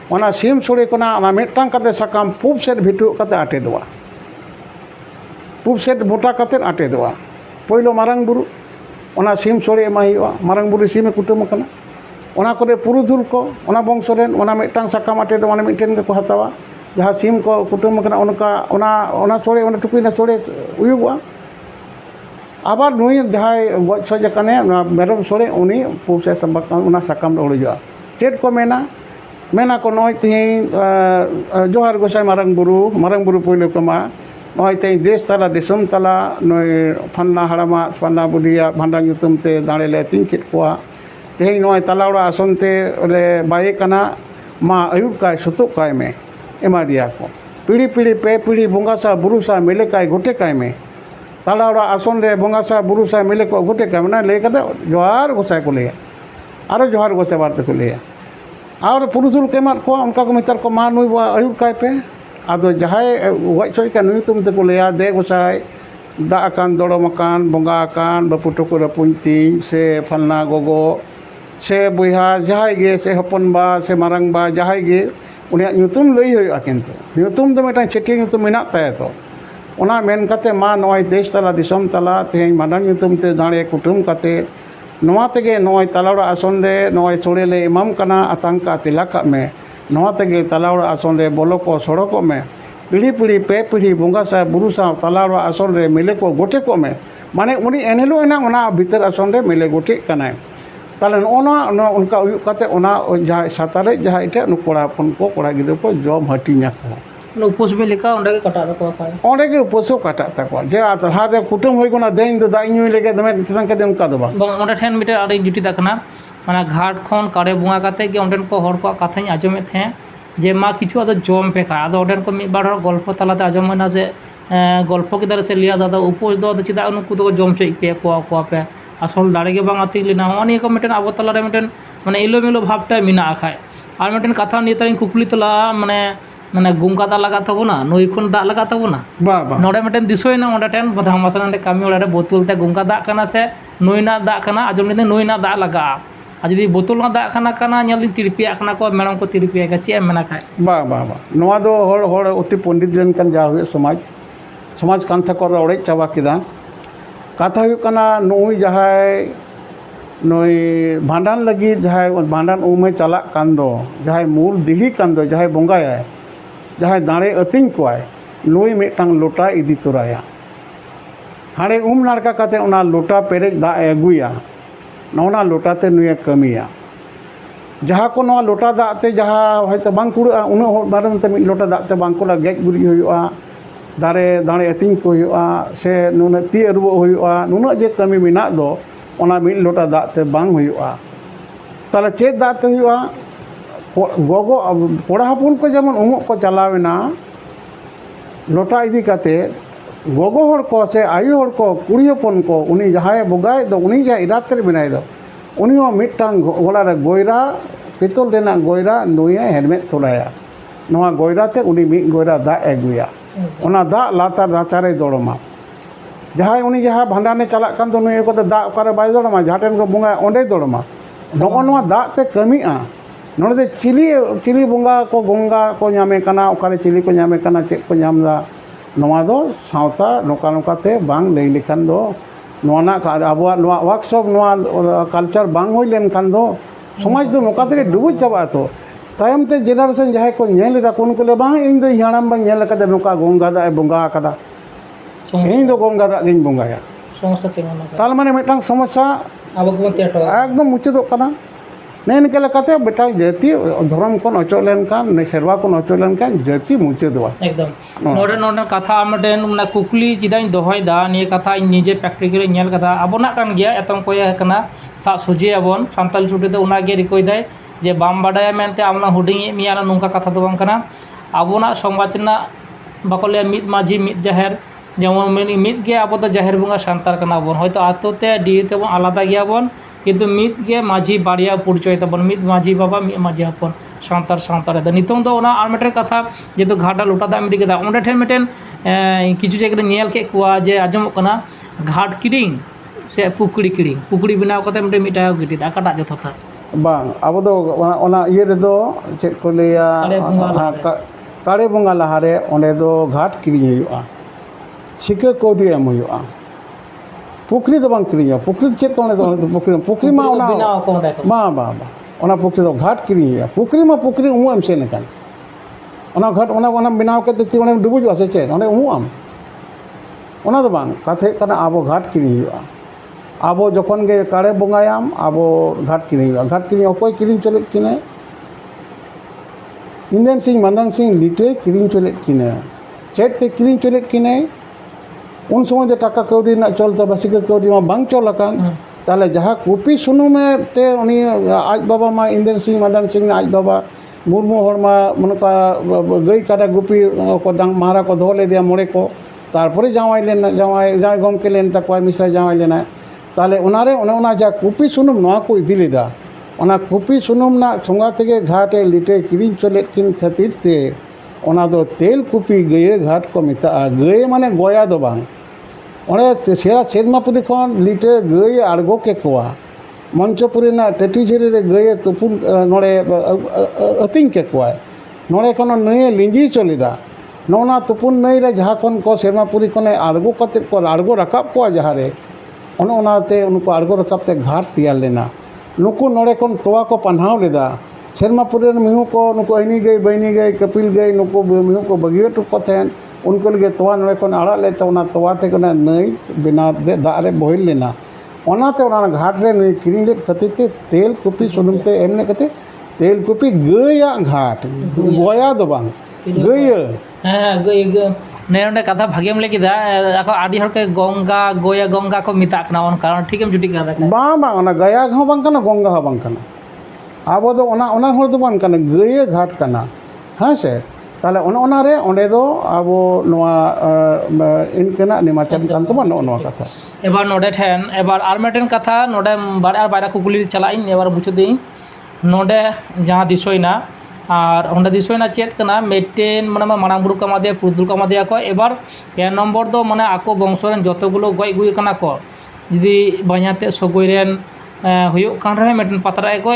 ᱚᱱᱟ ᱥᱤᱢ ᱥᱳᱲᱮ ᱠᱷᱚᱱᱟᱜ ᱚᱱᱟ ᱢᱤᱫᱴᱟᱝ ᱠᱟᱛᱮᱫ ᱥᱟᱠᱟᱢ ᱯᱩᱵ ᱥᱮᱫ ᱵᱷᱤᱴᱩᱣᱟᱹᱜ ᱠᱟᱛᱮᱫ ᱟᱴᱮᱫᱚᱜᱼᱟ ᱯᱩᱵ ᱥᱮᱫ ᱢᱳᱴᱟ ᱠᱟᱛᱮᱫ ᱟᱴᱮᱫᱚᱜᱼᱟ ᱯᱳᱭᱞᱳ ᱢᱟᱨᱟᱝ ᱵᱩᱨᱩ ᱚᱱᱟ ᱥᱤᱢ ᱥᱳᱲᱮ ᱮᱢᱟᱭ ᱦᱩᱭᱩᱜᱼᱟ ᱢᱟᱨᱟᱝ ᱵᱩᱨᱩ ᱥᱤᱢᱮ ᱠᱩᱴᱟᱹᱢ ᱟᱠᱟᱱᱟ ᱚᱱᱟ ᱠᱚᱨᱮᱜ ᱯᱩᱨᱩᱫᱷᱩᱞ ᱠᱚ ᱚᱱᱟ ᱵᱚᱝᱥᱚ ᱨᱮᱱ ᱚᱱᱟ ᱢᱤᱫᱴᱟᱝ ᱥᱟᱠᱟᱢ ᱟᱴᱮᱫᱚᱜ ᱢᱟᱱᱮ ᱢᱤᱫᱴᱮᱱ ᱜᱮᱠᱚ ᱦᱟᱛᱟᱣᱟ ᱡᱟᱦᱟᱸ ᱥᱤᱢ ᱠᱚ ᱠᱩᱴᱟᱹᱢ ᱟᱠᱟᱱᱟ ᱚᱱᱠᱟ ᱚᱱᱟ ᱚᱱᱟ ᱥᱳᱲᱮ ᱚᱱᱟ ᱴᱩᱠᱩᱡ ᱨᱮᱱᱟᱜ ᱥᱳᱲᱮ ᱦᱩᱭᱩᱜᱚᱜᱼᱟ ᱟᱵᱟᱨ ᱱᱩᱭ ᱡᱟᱦᱟᱸᱭ ᱜᱚᱡ ᱥᱚᱡ ᱟᱠᱟᱱᱮ ᱱᱚᱣᱟ ᱢᱮᱨᱚᱢ ᱥᱳᱲᱮ ᱩᱱᱤ ᱯᱩᱵ ᱥᱮᱫ ᱚᱱᱟ ᱥᱟᱠᱟᱢ ᱫᱚ ᱚᱲᱮᱡᱚᱜᱼᱟ ᱪᱮᱫ ᱠᱚ ᱢᱮᱱᱟ ᱢᱮᱱᱟᱠᱚ ᱱᱚᱜᱼᱚᱸᱭ ᱛᱮᱦᱮᱧ ᱡᱚᱦᱟᱨ ᱜᱚᱸᱥᱟᱭ ᱢᱟᱨᱟᱝ ᱵᱩᱨᱩ ᱢᱟᱨᱟᱝ ᱵᱩᱨᱩ ᱯᱳᱭᱞᱳ ᱠᱟᱢᱟ ᱱᱚᱜᱼᱚᱸᱭ ᱛᱮᱦᱮᱧ ᱫᱮᱥ ᱛᱟᱞᱟ ᱫᱤᱥᱚᱢ ᱛᱟᱞᱟ ᱱᱩᱭ ᱯᱷᱟᱞᱱᱟ ᱦᱟᱲᱟᱢᱟᱜ ᱯᱷᱟᱞᱱᱟ ᱵᱩᱰᱷᱤᱭᱟᱜ ᱵᱷᱟᱸᱰᱟᱱ ᱧᱩᱛᱩᱢ ᱛᱮ ᱫᱟᱲᱮ ᱞᱮ ᱟᱹᱛᱤᱧ ᱠᱮᱫ ᱠᱚᱣᱟ ᱛᱮᱦᱮᱧ ᱱᱚᱜᱼᱚᱸᱭ ᱛᱟᱞᱟ ᱚᱲᱟᱜ ᱟᱥᱚᱱ ᱛᱮ ᱞᱮ ᱵᱟᱭᱮ ᱠᱟᱱᱟ ᱢᱟ ᱟᱹᱭᱩᱨ ᱠᱟᱭ ᱥᱩᱛᱩᱜ ᱠᱟᱭ ᱢᱮ ᱮᱢᱟ ᱫᱮᱭᱟ ᱠᱚ ᱯᱤᱲᱦᱤ ᱯᱤᱲᱦᱤ ᱯᱮ ᱯᱤᱲᱦᱤ ᱵᱚᱸᱜᱟ ᱥᱟᱶ ᱵᱩᱨᱩ ᱥᱟᱶ ᱢᱤᱞᱮ ᱠᱟᱭ ᱜᱷᱩᱴᱮ ᱠᱟᱭ ᱢᱮ ᱛᱟᱞᱟ ᱚᱲᱟᱜ ᱟᱥᱚᱱ ᱨᱮ ᱵᱚᱸᱜᱟ ᱥᱟᱶ ᱵᱩᱨᱩ ᱥᱟᱶ ᱢᱤᱞᱮ ᱠᱚ ᱜᱷᱩᱴᱮ ᱠᱟᱭ ᱢᱮ ᱚᱱᱟ ᱞᱟᱹᱭ ᱠᱟᱛᱮᱫ ᱡᱚᱦᱟᱨ ᱜᱚᱸᱥᱟᱭ ᱠᱚ ᱞᱟᱹᱭᱟ ᱟᱨᱚ ᱡᱚᱦᱟᱨ ᱜᱚᱸᱥᱟᱭ ᱵᱟᱵᱟ ᱛᱮᱠᱚ ᱞᱟᱹᱭᱟ ᱟᱨ ᱯᱩᱨᱩᱫᱷᱩᱞ ᱠᱚ ᱮᱢᱟᱫ ᱠᱚᱣᱟ ᱚᱱᱠᱟ ᱠᱚ ᱢᱮᱛᱟᱫ ᱠᱚᱣᱟ ᱢᱟ ᱱᱩᱭ ᱵᱟᱵᱟ ᱟᱹᱭᱩᱨ ᱠᱟᱭ ᱯᱮ ᱟᱫᱚ ᱡᱟᱦᱟᱸᱭ ᱜᱚᱡ ᱦᱚᱪᱚᱭᱮ ᱠᱟᱱ ᱱᱩᱭ ᱧᱩᱛᱩᱢ ᱛᱮᱠᱚ ᱞᱟᱹᱭᱟ ᱫᱮ ᱜᱚᱸᱥᱟᱭ ᱫᱟᱜ ᱟᱠᱟᱱ ᱫᱚᱲᱚᱢ ᱟᱠᱟᱱ ᱵᱚᱸᱜᱟ ᱟᱠᱟᱱ ᱵᱟᱹᱯᱩ ᱴᱷᱟᱹᱠᱩᱨ ᱦᱚᱯᱚᱱ ᱛᱤᱧ ᱥᱮ ᱯᱷᱟᱞᱱᱟ ᱜᱚᱜᱚ ᱥᱮ ᱵᱚᱭᱦᱟ ᱡᱟᱦᱟᱸᱭ ᱜᱮ ᱥᱮ ᱦᱚᱯᱚᱱ ᱵᱟ ᱥᱮ ᱢᱟᱨᱟᱝ ᱵᱟ ᱡᱟᱦᱟᱸᱭ ᱜᱮ ᱩᱱᱤᱭᱟᱜ ᱧᱩᱛᱩᱢ ᱞᱟᱹᱭ ᱦᱩᱭᱩᱜᱼᱟ ᱠᱤᱱᱛᱩ ᱧᱩᱛᱩᱢ ᱫᱚ ᱢᱤᱫᱴᱟᱱ ᱪᱷᱟᱹᱴᱭᱟᱹᱨ ᱧᱩᱛᱩᱢ ᱢᱮᱱᱟᱜ ᱛᱟᱭᱟ ᱛᱚ ᱚᱱᱟ ᱢᱮᱱ ᱠᱟᱛᱮᱫ ᱢᱟ ᱱᱚᱜᱼᱚᱭ ᱫᱮᱥ ᱛᱟᱞᱟ ᱫᱤᱥᱚᱢ ᱛᱟᱞᱟ ᱛᱮᱦᱮᱧ ᱵᱷᱟᱸᱰᱟᱱ ᱧᱩᱛᱩᱢ ᱛᱮ ᱫᱟᱲᱮ ᱠᱩᱴᱟᱹᱢ ᱠᱟᱛᱮᱫ ᱱᱚᱣᱟ ᱛᱮᱜᱮ ᱱᱚᱜᱼᱚᱭ ᱛᱟᱞᱟ ᱚᱲᱟᱜ ᱟᱥᱚᱱ ᱨᱮ ᱱᱚᱜᱼᱚᱭ ᱥᱚᱲᱮ ᱞᱮ ᱮᱢᱟᱢ ᱠᱟᱱᱟ ᱟᱛᱟᱝ ᱠᱟᱜ ᱛᱮᱞᱟ ᱠᱟᱜ ᱢᱮ ᱱᱚᱣᱟ ᱛᱮᱜᱮ ᱛᱟᱞᱟ ᱚᱲᱟᱜ ᱟᱥᱚᱱ ᱨᱮ ᱵᱚᱞᱚ ᱠᱚᱜ ᱥᱚᱲᱚ ᱠᱚᱜ ᱢᱮ ᱯᱤᱲᱦᱤ ᱯᱤᱲᱦᱤ ᱯᱮ ᱯᱤᱲᱦᱤ ᱵᱚᱸᱜᱟ ᱥᱟᱶ ᱵᱩᱨᱩ ᱥᱟᱶ ᱛᱟᱞᱟ ᱚᱲᱟᱜ ᱟᱥᱚᱱ ᱨᱮ ᱢᱤᱞᱮ ᱠᱚᱜ ᱜᱚᱴᱮ ᱠᱚᱜ ᱢᱮ ᱢᱟᱱᱮ ᱩᱱᱤ ᱮᱱ ᱦᱤᱞᱳᱜ ᱮᱱᱟᱜ ᱚᱱᱟ ᱵᱷᱤᱛᱟᱹᱨ ᱟᱥᱚᱱ ᱨᱮ ᱢᱤᱞᱮ ᱜᱚᱴᱮᱜ ᱠᱟᱱᱟᱭ ᱛᱟᱦᱚᱞᱮ ᱱᱚᱜᱼᱚ ᱱᱚᱣᱟ ᱚᱱᱮ ᱚᱱᱠᱟ ᱦᱩᱭᱩᱜ ᱠᱟᱛᱮᱫ ᱚᱱᱟ ᱡᱟᱦᱟᱸᱭ ᱥᱟᱛᱨᱮᱡ ᱡᱟᱦᱟᱸᱭ ᱴᱷᱮᱱ ᱱᱩᱠᱩ ᱠᱚᱲᱟ ᱦᱚᱯᱚᱱ ᱠᱚ ᱠᱚᱲᱟ ᱜᱤᱫᱽᱨᱟᱹ ᱠᱚ ᱡᱚᱢ ᱦᱟᱹᱴᱤᱧ ᱟᱠᱚ ᱩᱯᱟᱹᱥᱵᱤ ᱞᱮᱠᱟ ᱚᱸᱰᱮ ᱜᱮ ᱠᱟᱴᱟᱜ ᱛᱟᱠᱚᱣᱟ ᱚᱠᱟ ᱨᱮ ᱚᱸᱰᱮ ᱜᱮ ᱩᱯᱟᱹᱥ ᱦᱚᱸ ᱠᱟᱴᱟᱜ ᱛᱟᱠᱚᱣᱟ ᱡᱮ ᱟᱨ ᱞᱟᱦᱟ ᱨᱮ ᱠᱩᱴᱟᱹᱢ ᱦᱩᱭ ᱠᱟᱱᱟ ᱫᱮᱱ ᱤᱧ ᱫᱚ ᱫᱟᱜ ᱤᱧ ᱧᱩᱭ ᱞᱮᱜᱮ ᱫᱚᱢᱮ ᱛᱮᱛᱟᱝ ᱠᱮᱫᱮᱭᱟ ᱚᱱᱠᱟ ᱫᱚ ᱵᱟᱝ ᱵᱟᱝ ᱚᱸᱰᱮ ᱴᱷᱮᱱ ᱢᱤᱫᱴᱮᱱ ᱟᱹᱰᱤ ᱡᱩᱴᱤ ᱫᱟᱜ ᱠᱟᱱᱟ ᱚᱱᱟ ᱜᱷᱟᱴ ᱠᱷᱚᱱ ᱠᱟᱲᱮ ᱵᱚᱸᱜᱟ ᱠᱟᱛᱮᱫ ᱜᱮ ᱚᱸᱰᱮᱱ ᱠᱚ ᱦᱚᱲ ᱠᱚᱣᱟᱜ ᱠᱟᱛᱷᱟᱧ ᱟᱸᱡᱚᱢᱮᱫ ᱛᱟᱦᱮᱸᱫ ᱡᱮ ᱢᱟ ᱠᱤᱪᱷᱩ ᱟᱫᱚ ᱡᱚᱢ ᱯᱮ ᱠᱷᱟᱱ ᱟᱫᱚ ᱚᱸᱰᱮᱱ ᱠᱚ ᱢᱤᱫ ᱵᱟᱨ ᱦᱚᱲ ᱜᱚᱞᱯᱷᱚ ᱛᱟᱞᱟᱛᱮ ᱟᱸᱡᱚᱢ ᱦᱩᱭᱱᱟ ᱡᱮ ᱜᱚᱞᱯᱷᱚ ᱠᱮᱫᱟᱞᱮ ᱥᱮ ᱞᱟᱹᱭ ᱟᱫᱟ ᱩᱯᱟᱹᱥ ᱫᱚ ᱟᱫᱚ ᱪᱮᱫᱟᱜ ᱱᱩᱠᱩ ᱫᱚ ᱡᱚᱢ ᱦᱚᱪᱚᱭᱮᱫ ᱯᱮᱭᱟ ᱠᱚᱣᱟ ᱠᱚᱣᱟ ᱯᱮ ᱟᱥᱚᱞ ᱫᱟᱲᱮ ᱜᱮ ᱵᱟᱝ ᱟᱹᱛᱤᱧ ᱞᱮᱱᱟ ᱱᱚᱜᱼᱚ ᱱᱤᱭᱟᱹ ᱠᱚ ᱢᱤᱫᱴᱮᱱ ᱟᱵᱚ ᱛᱟᱞᱟᱨᱮ ᱢᱤᱫᱴᱮᱱ ᱢᱟᱱᱮ ᱮᱞᱳᱢᱮᱞᱳ ᱵᱷᱟᱵᱽ ᱴᱟᱜ ᱢᱮᱱᱟᱜᱼᱟ ᱠᱷᱟᱱ ᱟᱨ ᱢᱤᱫᱴᱮᱱ ᱠᱟᱛᱷᱟ ᱱᱤᱭᱟᱹ ᱛᱟᱞᱟᱨᱤᱧ ᱠᱩᱠᱞᱤ ᱛᱟᱞᱟᱝᱼᱟ ᱢᱟᱱᱮ ᱢᱟᱱᱮ ᱜᱚᱝᱜᱟ ᱫᱟᱜ ᱞᱟᱜᱟᱜ ᱛᱟᱵᱚᱱᱟ ᱱᱟᱹᱭ ᱠᱷᱚᱱ ᱫᱟᱜ ᱞᱟᱜᱟᱜ ᱛᱟᱵᱚᱱᱟ ᱵᱟ ᱵᱟ ᱱᱚᱰᱮ ᱢᱤᱫᱴᱮᱱ ᱫᱤᱥᱟᱹᱭᱮᱱᱟ ᱚᱸᱰᱮ ᱴᱷᱮᱱ ᱫᱷᱟᱢᱟᱥᱟ ᱨᱮ ᱢᱤᱫᱴᱮᱱ ᱠᱟᱹᱢᱤ ᱚᱲᱟᱜ ᱨᱮ ᱵᱳᱛᱳᱞ ᱛᱮ ᱜᱚᱝᱜᱟ ᱫᱟᱜ ᱠᱟᱱᱟ ᱥᱮ ᱱᱟᱹᱭ ᱨᱮᱱᱟᱜ ᱫᱟᱜ ᱠᱟᱱᱟ ᱟᱸᱡᱚᱢ ᱞᱮᱫᱟᱹᱧ ᱱᱟᱹᱭ ᱨᱮᱱᱟᱜ ᱫᱟᱜ ᱞᱟᱜᱟᱜᱼᱟ ᱟᱨ ᱡᱩᱫᱤ ᱵᱳᱛᱳᱞ ᱨᱮᱱᱟᱜ ᱫᱟᱜ ᱠᱟᱱᱟ ᱠᱟᱱᱟ ᱧᱮᱞ ᱫᱟᱹᱧ ᱛᱤᱨᱯᱤᱭᱟᱜ ᱠᱟᱱᱟ ᱠᱚ ᱢᱮᱨᱚᱢ ᱠᱚ ᱛᱤᱨᱯᱤᱭᱟᱭ ᱠᱟᱱᱟ ᱪᱮᱫ ᱮᱢ ᱢᱮᱱᱟ ᱠᱷᱟᱡ ᱵᱟ ᱵᱟ ᱵᱟ ᱱᱚᱣᱟ ᱫᱚ ᱦᱚᱲ ᱦᱚᱲ ᱚᱛᱤ ᱯᱚᱱᱰᱤᱛ ᱨᱮᱱ ᱠᱟᱱ ᱡᱟ ᱦᱩᱭᱩᱜ ᱥᱚᱢᱟᱡᱽ ᱥᱚᱢᱟᱡᱽ ᱠᱟᱱ ᱛᱟᱠᱚ ᱨᱚᱲᱮᱡ ᱪᱟᱵᱟ ᱠᱮᱫᱟ ᱠᱟᱛᱷᱟ ᱦᱩᱭᱩᱜ ᱠᱟᱱᱟ ᱱᱩᱜᱼᱩᱭ ᱡᱟᱦᱟᱸᱭ ᱱᱩᱭ ᱵᱷᱟᱸᱰᱟᱱ ᱞᱟᱹᱜᱤᱫ ᱡᱟᱦᱟᱸᱭ ᱵᱷᱟᱸᱰᱟᱱ ᱩᱢᱮ ᱪᱟᱞᱟᱜ ᱠᱟᱱ ᱫᱚ ᱡᱟᱦᱟᱸᱭ ᱢᱩᱞ ᱫᱤᱦᱤ ᱠᱟᱱ ᱫᱚᱭ ᱡᱟᱦᱟᱸᱭ ᱵᱚᱸᱜᱟᱭᱟᱭ ᱡᱟᱦᱟᱸᱭ ᱫᱟᱬᱮ ᱟᱹᱛᱤᱧ ᱠᱚᱣᱟᱭ ᱱᱩᱭ ᱢᱤᱫᱴᱟᱝ ᱞᱚᱴᱟᱭ ᱤᱫᱤ ᱛᱚᱨᱟᱭᱟ ᱦᱟᱸᱰᱮ ᱩᱢ ᱱᱟᱲᱠᱟ ᱠᱟᱛᱮᱫ ᱚᱱᱟ ᱞᱚᱴᱟ ᱯᱮᱨᱮᱡ ᱫᱟᱜ ᱮ ᱟᱹᱜᱩᱭᱟ ᱱᱚᱣᱟ ᱞᱚᱴᱟ ᱛᱮ ᱱᱩᱭᱮ ᱠᱟᱹᱢᱤᱭᱟ ᱡᱟᱦᱟᱸ ᱠᱚ ᱱᱚᱣᱟ ᱞᱚᱴᱟ ᱫᱟᱜ ᱛᱮ ᱡᱟᱦᱟᱸ ᱦᱚᱭᱛᱳ ᱵᱟᱝ ᱠᱩᱲᱟᱹᱜᱼᱟ ᱩᱱᱟᱹᱜ ᱦᱚᱲ ᱵᱟᱨᱮ ᱛᱮ ᱢᱤᱫ ᱞᱚᱴᱟ ᱫᱟᱜ ᱛᱮ ᱵᱟᱝ ᱠᱩᱲᱟᱹᱜᱼᱟ ᱜᱮᱡ ᱜᱩᱨᱤᱡ ᱦᱩᱭᱩᱜᱼᱟ ᱫᱟᱨᱮ ᱫᱟᱬᱮ ᱟᱹᱛᱤᱧ ᱠᱚ ᱦᱩᱭᱩᱜᱼᱟ ᱥᱮ ᱱᱩᱱᱟᱹᱜ ᱛᱤ ᱟᱹᱨᱩᱵᱚᱜ ᱦᱩᱭᱩᱜᱼᱟ ᱱᱩᱱᱟᱹᱜ ᱡᱮ ᱠᱟᱹᱢᱤ ᱢᱮᱱᱟᱜ ᱫᱚ ᱚᱱᱟ ᱢᱤᱫ ᱞᱚᱴᱟ ᱫᱟᱜ ᱛᱮ ᱵᱟᱝ ᱦᱩᱭᱩᱜᱼᱟ ᱛᱟᱦᱚᱞᱮ ᱪᱮᱫ ᱫᱟᱜ ᱛᱮ ᱦᱩᱭᱩᱜᱼᱟ ᱜᱚᱜᱚ ᱠᱚᱲᱟ ᱦᱚᱯᱚᱱ ᱠᱚ ᱡᱮᱢᱚᱱ ᱩᱢᱩᱜ ᱠᱚ ᱪᱟᱞᱟᱣ ᱮᱱᱟ ᱞᱚᱴᱟ ᱤᱫᱤ ᱠᱟᱛᱮ ᱜᱚᱜᱚ ᱦᱚᱲ ᱠᱚ ᱥᱮ ᱟᱭᱳ ᱦᱚᱲ ᱠᱚ ᱠᱩᱲᱤ ᱦᱚᱯᱚᱱ ᱠᱚ ᱩᱱᱤ ᱡᱟᱦᱟᱸᱭ ᱵᱚᱸᱜᱟᱭᱮᱜ ᱫᱚ ᱩᱱᱤ ᱡᱟᱦᱟᱸᱭ ᱮᱨᱟ ᱛᱮᱜ ᱢᱮᱱᱟᱭ ᱫᱚ ᱩᱱᱤ ᱦᱚᱸ ᱢᱤᱫᱴᱟᱝ ᱜᱷᱚᱲᱟ ᱨᱮ ᱜᱚᱭᱨᱟ ᱯᱤᱛᱚᱞ ᱨᱮᱱᱟᱜ ᱜᱚᱭᱨᱟ ᱱᱩᱭᱮ ᱦᱮᱨᱢᱮᱫ ᱛᱚᱨᱟᱭᱟ ᱱᱚᱣᱟ ᱜᱚᱭᱨᱟ ᱛᱮ ᱩᱱᱤ ᱢᱤᱫ ᱜᱚᱭᱨᱟ ᱫᱟᱜ ᱮ ᱟᱹᱜᱩᱭᱟ ᱚᱱᱟ ᱫᱟᱜ ᱞᱟᱛᱟᱨ ᱞᱟᱛᱟᱨᱮᱭ ᱫᱚᱲᱚᱢᱟ ᱡᱟᱦᱟᱸᱭ ᱩᱱᱤ ᱡᱟᱦᱟᱸᱭ ᱵᱷᱟᱸᱰᱟᱱᱮ ᱪᱟᱞᱟᱜ ᱠᱟᱱ ᱫᱚ ᱱᱩᱭ ᱟᱭᱳ ᱫᱚ ᱫᱟᱜ ᱚᱠᱟᱨᱮ ᱵᱟᱭ ᱫᱚᱲᱚᱢᱟ ᱡᱟᱦᱟᱸ ᱴᱷᱮᱱ ᱠᱚ ᱵᱚᱸᱜᱟᱭᱟ ᱚᱸᱰᱮᱭ ᱫᱚᱲᱚᱢᱟ ᱱᱚᱜᱼᱚ ᱱᱚᱣᱟ ᱫᱟᱜ ᱛᱮ ᱠᱟᱹᱢᱤᱜᱼᱟ ᱱᱚᱰᱮ ᱫᱚ ᱪᱤᱞᱤ ᱪᱤᱞᱤ ᱵᱚᱸᱜᱟ ᱠᱚ ᱜᱚᱝᱜᱟ ᱠᱚ ᱧᱟᱢᱮ ᱠᱟᱱᱟ ᱚᱠᱟᱨᱮ ᱪᱤᱞᱤ ᱠᱚ ᱧᱟᱢᱮ ᱠᱟᱱᱟ ᱪᱮᱫ ᱠᱚ ᱧᱟᱢᱫᱟ ᱱᱚᱣᱟ ᱫᱚ ᱥᱟᱶᱛᱟ ᱱᱚᱝᱠᱟ ᱱᱚᱝᱠᱟ ᱛᱮ ᱵᱟᱝ ᱞᱟᱹᱭ ᱞᱮᱠᱷᱟᱱ ᱫᱚ ᱱᱚᱣᱟ ᱨᱮᱱᱟᱜ ᱟᱵᱚᱣᱟᱜ ᱱᱚᱣᱟ ᱳᱟᱨᱠᱥᱚᱯ ᱱᱚᱣᱟ ᱠᱟᱞᱪᱟᱨ ᱵᱟᱝ ᱦᱩᱭ ᱞᱮᱱᱠᱷᱟᱱ ᱫᱚ ᱥᱚᱢᱟᱡᱽ ᱫᱚ ᱱᱚᱝᱠᱟ ᱛᱮᱜᱮ ᱰᱩᱵᱩᱡ ᱪᱟᱵᱟᱜ ᱟᱛᱚ ᱛᱟᱭᱚᱢ ᱛᱮ ᱡᱮᱱᱟᱨᱮᱥᱚᱱ ᱡᱟᱦᱟᱸᱭ ᱠᱚ ᱧᱮᱞ ᱮᱫᱟ ᱠᱚ ᱩᱱᱠᱩ ᱠᱚ ᱞᱟᱹᱭᱟ ᱵᱟᱝ ᱤᱧ ᱫᱚ ᱤᱧ ᱦᱟᱲᱟᱢ ᱵᱟᱹᱧ ᱧᱮᱞ ᱠᱟᱫᱮ ᱱᱚᱝᱠᱟ ᱜᱚᱝᱜᱟ ᱫᱟᱜ ᱮ ᱵᱚᱸᱜᱟ ᱟᱠᱟᱫᱟ ᱤᱧ ᱫᱚ ᱜᱚᱝᱜᱟ ᱫᱟᱜ ᱜᱤᱧ ᱵᱚᱸᱜᱟᱭᱟ ᱥᱚᱢᱚᱥᱥᱟ ᱛᱤᱸᱜᱩᱱᱟ ᱛᱟᱨ ᱢᱟᱱᱮ ᱢᱤᱫᱴᱟᱝ ᱥᱚᱢᱚᱥᱥᱟ ᱟᱵᱚ ᱜᱮᱵᱚᱱ ᱛᱮᱭᱟᱨ ᱦᱚᱴᱚ ᱠᱟᱜᱼᱟ ᱮᱠᱫᱚᱢ ᱢᱩᱪᱟᱹᱫᱚᱜ ᱠᱟᱱᱟ ᱱᱮᱜᱼᱮ ᱱᱤᱝᱠᱟᱹ ᱞᱮᱠᱟᱛᱮ ᱢᱤᱫᱴᱟᱝ ᱡᱟᱹᱛᱤ ᱫᱷᱚᱨᱚᱢ ᱠᱷᱚᱱ ᱚᱪᱚᱜ ᱞᱮᱱᱠᱷᱟᱱ ᱥᱮᱨᱣᱟ ᱠᱷᱚᱱ ᱚᱪᱚᱜ ᱞᱮᱱᱠᱷᱟᱱ ᱡᱟᱹᱛᱤ ᱢᱩᱪᱟᱹᱫᱚᱜᱼᱟ ᱮᱠᱫᱚᱢ ᱱᱚᱰᱮ ᱱᱚᱰᱮ ᱠᱟᱛᱷᱟ ᱟᱢ ᱢᱤᱫᱴᱮᱱ ᱚᱱᱟ ᱠᱩᱠᱞᱤ ᱪᱮᱫᱟᱜ ᱤᱧ ᱫᱚᱦᱚᱭᱮᱫᱟ ᱱᱤᱭᱟᱹ ᱠᱟᱛᱷᱟ ᱤᱧ ᱱᱤᱡᱮ ᱯᱨᱮᱠᱴᱤᱠᱮᱞ ᱤᱧ ᱧᱮᱞ ᱠᱟᱫᱟ ᱟᱵᱚᱱᱟᱜ ᱠᱟᱱ ᱜᱮᱭᱟ ᱮᱛᱚᱢ ᱠᱚᱸᱭᱮ ᱟᱠᱟᱱᱟ ᱥᱟᱵ ᱥᱚᱡᱷᱮᱭᱟᱵᱚᱱ ᱥᱟᱱᱛᱟᱲ ᱪᱷᱩᱴᱤ ᱫᱚ ᱚᱱᱟᱜᱮ ᱨᱤᱠᱟᱹᱭᱮᱫᱟᱭ ᱡᱮ ᱵᱟᱢ ᱵᱟᱰᱟᱭᱟ ᱢᱮᱱᱛᱮ ᱟᱢ ᱫᱚ ᱦᱩᱰᱤᱧᱮᱫ ᱢᱮᱭᱟ ᱱᱚᱝᱠᱟ ᱠᱟᱛᱷᱟ ᱫᱚ ᱵᱟᱝ ᱠᱟᱱᱟ ᱟᱵᱚᱱᱟᱜ ᱥᱚᱢᱟᱡᱽ ᱨᱮᱱᱟᱜ ᱵᱟᱠᱚ ᱞᱟᱹᱭᱟ ᱢᱤᱫ ᱢᱟᱹᱡᱷᱤ ᱢᱤᱫ ᱡᱟᱦᱮᱨ ᱡᱮᱢᱚᱱ ᱢᱤᱫ ᱜᱮ ᱟᱵᱚ ᱫᱚ ᱡᱟᱦᱮᱨ ᱵᱚᱸᱜᱟ ᱥᱟᱱᱛᱟᱲ ᱠᱟᱱᱟᱵᱚᱱ ᱦᱚᱭᱛᱳ ᱟᱹᱛᱩ ᱛᱮ ᱰᱤᱦᱟᱹᱛ ᱛᱮᱵᱚᱱ ᱟᱞᱟᱫᱟ ᱜᱮᱭᱟᱵᱚᱱ ᱠᱤᱱᱛᱩ ᱢᱤᱫ ᱜᱮ ᱢᱟᱹᱡᱷᱤ ᱵᱟᱨᱭᱟ ᱯᱚᱨᱤᱪᱚᱭ ᱛᱟᱵᱚᱱ ᱢᱤᱫ ᱢᱟᱹᱡᱷᱤ ᱵᱟᱵᱟ ᱢᱤᱫ ᱢᱟᱹᱡᱷᱤ ᱦᱚᱯᱚᱱ ᱥᱟᱱᱛᱟᱲ ᱥᱟᱶᱛᱟ ᱨᱮᱫᱚ ᱱᱤᱛᱚᱝ ᱫᱚ ᱚᱱᱟ ᱟᱨ ᱢᱤᱫᱴᱮᱱ ᱠᱟᱛᱷᱟ ᱡᱮᱦᱮᱛᱩ ᱜᱷᱟᱴ ᱟᱨ ᱞᱚᱴᱟ ᱫᱟᱜ ᱮᱢ ᱤᱫᱤ ᱠᱮᱫᱟ ᱚᱸᱰᱮ ᱴᱷᱮᱱ ᱢᱤᱫᱴᱮᱱ ᱠᱤᱪᱷᱩ ᱡᱟᱭᱜᱟ ᱨᱤᱧ ᱧᱮᱞ ᱠᱮᱫ ᱠᱚᱣᱟ ᱡᱮ ᱟᱸᱡᱚᱢᱚᱜ ᱠᱟᱱᱟ ᱜᱷᱟᱴ ᱠᱤᱨᱤᱧ ᱥᱮ ᱯᱩᱠᱷᱨᱤ ᱠᱤᱨᱤᱧ ᱯᱩᱠᱷᱨᱤ ᱵᱮᱱᱟᱣ ᱠᱟᱛᱮᱫ ᱢᱤᱫᱴᱮᱱ ᱢᱤᱫ ᱴᱟᱠᱟ ᱠᱚ ᱜᱤᱰᱤᱭᱮᱫᱟ ᱚᱠᱟᱴᱟᱜ ᱡᱚᱛᱷᱟᱛᱟ ᱵᱟᱝ ᱟᱵᱚ ᱫᱚ ᱚᱱᱟ ᱚᱱᱟ ᱤᱭᱟᱹ ᱨᱮᱫᱚ ᱪᱮᱫ ᱠᱚ ᱞᱟᱹᱭᱟ ᱠᱟᱲᱮ ᱵᱚᱸᱜᱟ ᱞᱟᱦᱟᱨᱮ᱾ ᱠᱟ- ᱠᱟᱲᱮ ᱵᱚᱸᱜᱟ ᱞᱟᱦᱟᱨᱮ ᱚᱸᱰᱮ ᱫᱚ ᱜᱷᱟᱴ ᱠᱤᱨᱤᱧ ᱦᱩᱭᱩᱜᱼᱟ ᱥᱤᱠᱟᱹ ᱠᱟᱹᱣᱰᱤ ᱮᱢ ᱦᱩᱭᱩᱜᱼᱟ ᱯᱩᱠᱷᱨᱤ ᱫᱚ ᱵᱟᱝ ᱠᱤᱨᱤᱧᱚᱜᱼᱟ ᱯᱩᱠᱷᱨᱤ ᱫᱚ ᱪᱮᱫ ᱠᱚ ᱢᱮᱱᱟ ᱯᱩᱠᱷᱨᱤ ᱯᱩᱠᱷᱨᱤ ᱢᱟ ᱚᱱᱟ ᱵᱟᱝ ᱵᱟᱝ ᱚᱱᱟ ᱯᱩᱠᱷᱨᱤ ᱫᱚ ᱜᱷᱟᱴ ᱠᱤᱨᱤᱧ ᱦᱩᱭᱩᱜᱼᱟ ᱯᱩᱠᱷᱨᱤ ᱢᱟ ᱯᱩᱠᱷᱨᱤ ᱩᱢᱩᱜ ᱮᱢ ᱥᱮᱱ ᱟᱠᱟᱱ ᱚᱱᱟ ᱜᱷᱟᱴ ᱚᱱᱟ ᱚᱱᱟ ᱵᱮᱱᱟᱣ ᱠᱟᱛᱮ ᱪᱮᱫ ᱚᱸᱰᱮᱢ ᱰᱩᱵᱩᱡᱚᱜᱼᱟ ᱥᱮ ᱪᱮᱫ ᱚᱸᱰᱮ ᱩᱢᱩᱜ ᱟᱢ ᱚᱱᱟ ᱫᱚ ᱵᱟᱝ ᱠᱟᱛᱷᱟ ᱦᱩᱭᱩᱜ ᱠᱟᱱᱟ ᱟᱵᱚ ᱜᱷᱟᱴ ᱠᱤᱨᱤᱧ ᱦᱩᱭᱩᱜᱼᱟ ᱟᱵᱚ ᱡᱚᱠᱷᱚᱱ ᱜᱮ ᱠᱟᱲᱮ ᱵᱚᱸᱜᱟᱭᱟᱢ ᱟᱵᱚ ᱜᱷᱟᱴ ᱠᱤᱨᱤᱧ ᱦᱩᱭᱩᱜᱼᱟ ᱜᱷᱟᱴ ᱠᱤᱨᱤᱧ ᱚᱠᱚᱭ ᱠᱤᱨᱤᱧ ᱦᱚᱪᱚ ᱞᱮᱫ ᱠᱤᱱᱟᱹ ᱤᱸᱫᱟᱹᱱ ᱥᱤᱝ ᱢᱟᱸᱫᱟᱱ ᱥᱤᱝ ᱞᱤᱴᱟᱹᱭ ᱠᱤᱨᱤᱧ ᱦᱚᱪᱚ ᱞᱮᱫ ᱠᱤᱱᱟᱹ ᱪᱮᱫ ᱛᱮ ᱠᱤᱨᱤᱧ ᱦᱚᱪᱚ ᱞᱮᱫ ᱠᱤᱱᱟᱹᱭ ᱩᱱ ᱥᱚᱢᱚᱭ ᱫᱚ ᱴᱟᱠᱟ ᱠᱟᱹᱣᱰᱤ ᱨᱮᱱᱟᱜ ᱪᱚᱞ ᱫᱚ ᱵᱟᱹᱥᱤᱠᱟ ᱠᱟᱹᱣᱰᱤ ᱢᱟ ᱵᱟᱝ ᱪᱚᱞ ᱟᱠᱟᱱ ᱛᱟᱦᱚᱞᱮ ᱡᱟᱦᱟᱸ ᱠᱩᱯᱤ ᱥᱩᱱᱩᱢᱮ ᱛᱮ ᱩᱱᱤ ᱟᱡ ᱵᱟᱵᱟ ᱢᱟᱭ ᱤᱱᱫᱚᱨ ᱥᱤᱝ ᱢᱟᱫᱟᱱ ᱥᱤᱝ ᱟᱡ ᱵᱟᱵᱟ ᱢᱩᱨᱢᱩ ᱦᱚᱲ ᱢᱟ ᱱᱚᱝᱠᱟ ᱜᱟᱹᱭ ᱠᱟᱰᱟ ᱜᱩᱯᱤ ᱠᱚ ᱰᱟᱝ ᱢᱟᱦᱟᱨᱟ ᱠᱚ ᱫᱚᱦᱚ ᱞᱮᱫᱮᱭᱟ ᱢᱚᱬᱮ ᱠᱚ ᱛᱟᱨᱯᱚᱨᱮ ᱡᱟᱶᱟᱭ ᱞᱮᱱᱟᱭ ᱡᱟᱶᱟᱭ ᱡᱟᱶᱟᱭ ᱜᱚᱝᱠᱮ ᱞᱮᱱ ᱛᱟᱠᱚᱣᱟᱭ ᱢᱤᱥᱨᱟᱭ ᱡᱟᱶᱟᱭ ᱞᱮᱱᱟᱭ ᱛᱟᱦᱚᱞᱮ ᱚᱱᱟ ᱨᱮ ᱚᱱᱮ ᱚᱱᱟ ᱡᱟᱦᱟᱸ ᱠᱩᱯᱤ ᱥᱩᱱᱩᱢ ᱱᱚᱣᱟ ᱠᱚ ᱤᱫᱤ ᱞᱮᱫᱟ ᱚᱱᱟ ᱠᱩᱯᱤ ᱥᱩᱱᱩᱢ ᱨᱮᱱᱟᱜ ᱴᱷᱚᱸᱜᱟ ᱛᱮᱜᱮ ᱜᱷᱟᱴ ᱮ ᱞᱤᱴᱟᱹᱭ ᱠᱤᱨᱤᱧ ᱦᱚᱪᱚ ᱞᱮᱫ ᱠᱤᱱ ᱠᱷᱟᱹᱛᱤᱨ ᱛᱮ ᱚᱱᱟ ᱫᱚ ᱛᱮᱞᱠᱩᱯᱤ ᱜᱟᱹᱭᱟᱹ ᱜᱷᱟᱴ ᱠᱚ ᱢᱮᱛᱟᱜᱼᱟ ᱜᱟᱹᱭᱟᱹ ᱢᱟᱱᱮ ᱜᱚᱭᱟ ᱫᱚ ᱵᱟᱝ ᱚᱸᱰᱮ ᱥᱮᱭᱟ ᱥᱮᱫᱽᱢᱟᱯᱩᱨᱤ ᱠᱷᱚᱱ ᱞᱤᱴᱟᱹ ᱜᱟᱹᱭ ᱮ ᱟᱬᱜᱚ ᱠᱮᱠᱚᱣᱟ ᱢᱚᱧᱪᱚᱯᱩᱨᱤ ᱨᱮᱱᱟᱜ ᱴᱟᱹᱴᱤ ᱡᱷᱟᱹᱨᱤ ᱨᱮ ᱜᱟᱹᱭ ᱮ ᱛᱩᱯᱩᱫ ᱱᱚᱸᱰᱮ ᱟᱹᱛᱤᱧ ᱠᱮᱠᱚᱣᱟᱭ ᱱᱚᱸᱰᱮ ᱠᱷᱚᱱ ᱦᱚᱸ ᱱᱟᱹᱭᱮ ᱞᱤᱸᱡᱤ ᱦᱚᱪᱚ ᱞᱮᱫᱟ ᱱᱚᱜᱼᱚ ᱱᱚᱣᱟ ᱛᱩᱯᱩᱱ ᱱᱟᱹᱭ ᱨᱮ ᱡᱟᱦᱟᱸ ᱠᱷᱚᱱ ᱠᱚ ᱥᱮᱫᱽᱢᱟᱯᱩᱨᱤ ᱠᱷᱚᱱ ᱟᱬᱜᱚ ᱠᱟᱛᱮ ᱠᱚ ᱟᱬᱜᱚ ᱨᱟᱠᱟᱵ ᱠᱚᱣᱟ ᱡᱟᱦᱟᱸ ᱨᱮ ᱚᱱᱮ ᱚᱱᱟᱛᱮ ᱩᱱᱠᱩ ᱟᱬᱜᱚ ᱨᱟᱠᱟᱵ ᱛᱮ ᱜᱷᱟᱴ ᱛᱮᱭᱟᱨ ᱞᱮᱱᱟ ᱱᱩᱠᱩ ᱱᱚᱰᱮ ᱠᱷᱚᱱ ᱛᱚᱣᱟ ᱠᱚ ᱯᱟᱱᱦᱟᱣ ᱞᱮᱫᱟ ᱥᱮᱨᱢᱟ ᱯᱩᱨᱤ ᱨᱮᱱ ᱢᱤᱦᱩ ᱠᱚ ᱱᱩᱠᱩ ᱟᱹᱭᱱᱤ ᱜᱟᱹᱭ ᱵᱟᱹᱭᱱᱤ ᱜᱟᱹᱭ ᱠᱟᱹᱯᱤᱞ ᱜᱟᱹᱭ ᱱᱩᱠᱩ ᱢᱤᱦᱩ ᱠᱚ ᱵᱟᱹᱜᱤ ᱦᱚᱴᱚ ᱠᱟᱠᱚ ᱛᱟᱦᱮᱸᱫ ᱩᱱᱠᱩ ᱞᱟᱹᱜᱤᱫ ᱛᱚᱣᱟ ᱱᱚᱰᱮ ᱠᱷᱚᱱ ᱟᱲᱟᱜ ᱞᱮᱫ ᱛᱮ ᱚᱱᱟ ᱛᱚᱣᱟ ᱛᱮᱜᱮ ᱚᱱᱟ ᱱᱟᱹᱭ ᱵᱮᱱᱟᱣ ᱛᱮ ᱫᱟᱜ ᱨᱮ ᱵᱳᱦᱮᱞ ᱞᱮᱱᱟ ᱚᱱᱟᱛᱮ ᱚᱱᱟ ᱜᱷᱟᱴ ᱨᱮ ᱱᱩᱭ ᱠᱤᱨᱤᱧ ᱞᱮᱫ ᱠᱷᱟᱹᱛᱤᱨ ᱛᱮ ᱛᱮᱞ ᱠᱩᱯᱤ ᱥᱩᱱᱩᱢ ᱛᱮ ᱮᱢ ᱞᱮᱫ ᱠᱷᱟᱹᱛᱤᱨ ᱛᱮᱞᱠᱩᱯᱤ ᱜᱟᱹᱭᱟᱜ ᱜᱷᱟᱴ ᱜᱚᱭᱟ ᱫᱚ ᱵᱟᱝ ᱜᱟᱹᱭᱟᱹ ᱦᱮᱸ ᱜᱟᱹᱭ ᱜᱟᱹᱭ ᱱᱮ ᱚᱸᱰᱮ ᱠᱟᱛᱷᱟ ᱵᱷᱟᱜᱮᱢ ᱞᱟᱹᱭ ᱠᱮᱫᱟ ᱟᱠᱚ ᱟᱹᱰᱤ ᱦᱚᱲ ᱠᱚ ᱜᱚᱝᱜᱟ ᱜᱚᱭᱟ ᱜᱚᱝᱜᱟ ᱠᱚ ᱢᱮᱛᱟᱜ ᱠᱟᱱᱟ ᱚᱱᱠᱟ ᱴᱷᱤᱠᱮᱢ ᱡᱩᱴᱤᱡ ᱠᱟᱫᱟ ᱠᱷᱟᱡ ᱵᱟᱝ ᱵᱟᱝ ᱚᱱᱟ ᱜᱟᱭᱟ ᱦᱚᱸ ᱵᱟᱝ ᱠᱟᱱᱟ ᱜᱚᱝᱜᱟ ᱦᱚᱸ ᱵᱟᱝ ᱠᱟᱱᱟ ᱟᱵᱚ ᱫᱚ ᱚᱱᱟ ᱚᱱᱟ ᱦᱚᱲ ᱫᱚ ᱵᱟᱝ ᱠᱟᱱᱟ ᱜᱟᱹᱭᱟᱹ ᱜᱷᱟᱴ ᱠᱟᱱᱟ ᱦᱮᱸ ᱥᱮ ᱛᱟᱦᱚᱞᱮ ᱚᱱᱮ ᱚᱱᱟ ᱨᱮ ᱚᱸᱰᱮ ᱫᱚ ᱟᱵᱚ ᱱᱚᱣᱟ ᱤᱱᱠᱟᱹᱱᱟᱜ ᱱᱮᱢᱟᱪᱟᱨ ᱠᱟᱱ ᱛᱟᱵᱚᱱᱟ ᱱᱚᱜᱼᱚ ᱱᱚᱣᱟ ᱠᱟᱛᱷᱟ ᱮᱵᱟᱨ ᱱᱚᱰᱮ ᱴᱷᱮᱱ ᱮᱵᱟᱨ ᱟᱨ ᱢᱤᱫᱴᱮᱱ ᱠᱟᱛᱷᱟ ᱱᱚᱰᱮ ᱵᱟᱨᱭᱟ ᱵᱟᱨᱭᱟ ᱠᱩᱠᱞᱤ ᱪᱟᱞᱟᱜ ᱤᱧ ᱮᱵᱟᱨ ᱢᱩᱪᱟᱹᱫ ᱤᱫᱟᱹᱧ ᱱᱚᱰᱮ ᱡᱟᱦᱟᱸ ᱫᱤᱥᱟᱹᱭᱮᱱᱟ ᱟᱨ ᱚᱸᱰᱮ ᱫᱤᱥᱟᱹᱭᱮᱱᱟ ᱪᱮᱫ ᱠᱟᱱᱟ ᱢᱤᱫᱴᱮᱱ ᱢᱟᱱᱮ ᱢᱟᱨᱟᱝ ᱵᱩᱨᱩ ᱠᱚ ᱮᱢᱟᱫᱮᱭᱟ ᱯᱩᱨᱩᱫᱷᱩᱞ ᱠᱚ ᱮᱢᱟᱫᱮᱭᱟ ᱠᱚ ᱮᱵᱟᱨ ᱯᱮ ᱱᱚᱢᱵᱚᱨ ᱫᱚ ᱢᱟᱱᱮ ᱟᱠᱚ ᱵᱚᱝᱥᱚ ᱨᱮᱱ ᱡᱚᱛᱚ ᱜᱩᱞᱳ ᱜᱚᱡ ᱜᱩᱨ ᱠᱟᱱᱟ ᱠᱚ ᱡᱩᱫᱤ ᱵᱚᱭᱦᱟ ᱛᱮᱫ ᱥᱟᱹᱜᱟᱹᱭ ᱨᱮᱱ ᱦᱩᱭᱩᱜ ᱠᱟᱱ ᱨᱮᱦᱚᱸ ᱢᱤᱫᱴᱮᱱ ᱯᱟᱛᱲᱟ ᱜᱮᱠᱚ